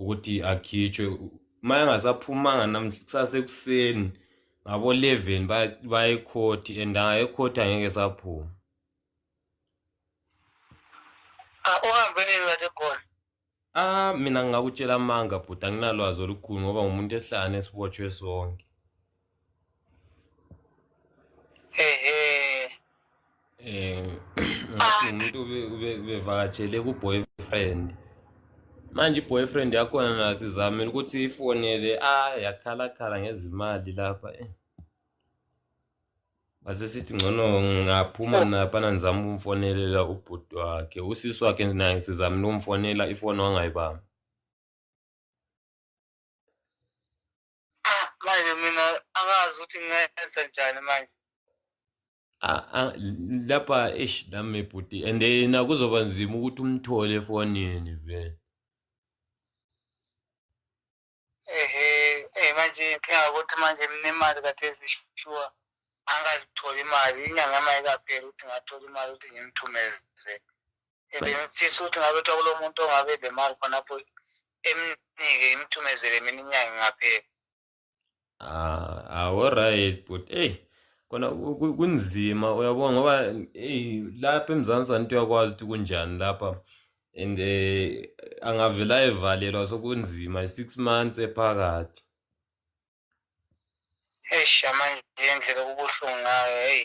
ukuthi akhitshwe uma engasaphumanga namhla kusase ekuseni ngabo-eleven bayekhothi and angayekhothi angeke saphuma uhambe nini kade khona ah mina ngingakutshela amanga bhuti anginalwazi olukhulu ngoba ngumuntu esihlangane sibotshwe sonke eh ngathi umuntu ubevakatshele ku-boyfriend manje i-boyfriend yakhona nasizamile ukuthi ifonele a ah, yakhalakhala ngezimali lapha eh wasesithi ngcono ngaphuma naphana ngizama ukumfonelela ubhuti wakhe usisi wakhe naye sizamile ukumfonela ifoni wangayibamba Ah, manje mina angazi ukuthi ngenze njani manje Ah, ah, lapha eish nami bhuti and yena kuzoba nzima ukuthi umthole efonini vele ehe eh manje inkinga ukuthi manje mnemali kade ezishuwa angazithola imali inyanga mayikaphela ukuthi ngathola imali ukuthi ngimthumeze ebeyafisa ukuthi ngabe kuthiwa kulo muntu ongabe le mali khonapho emnike imthumezele mina inyanga ngaphela ah aworight ah, but eyi kona kunzima uyabona ngoba eyi lapha emzansi anti uyakwazi ukuthi kunjani lapha and um eh, angavela evalelwa sokunzima i-six months ephakathi eish amanje indlela okubuhlungu ngayo heyi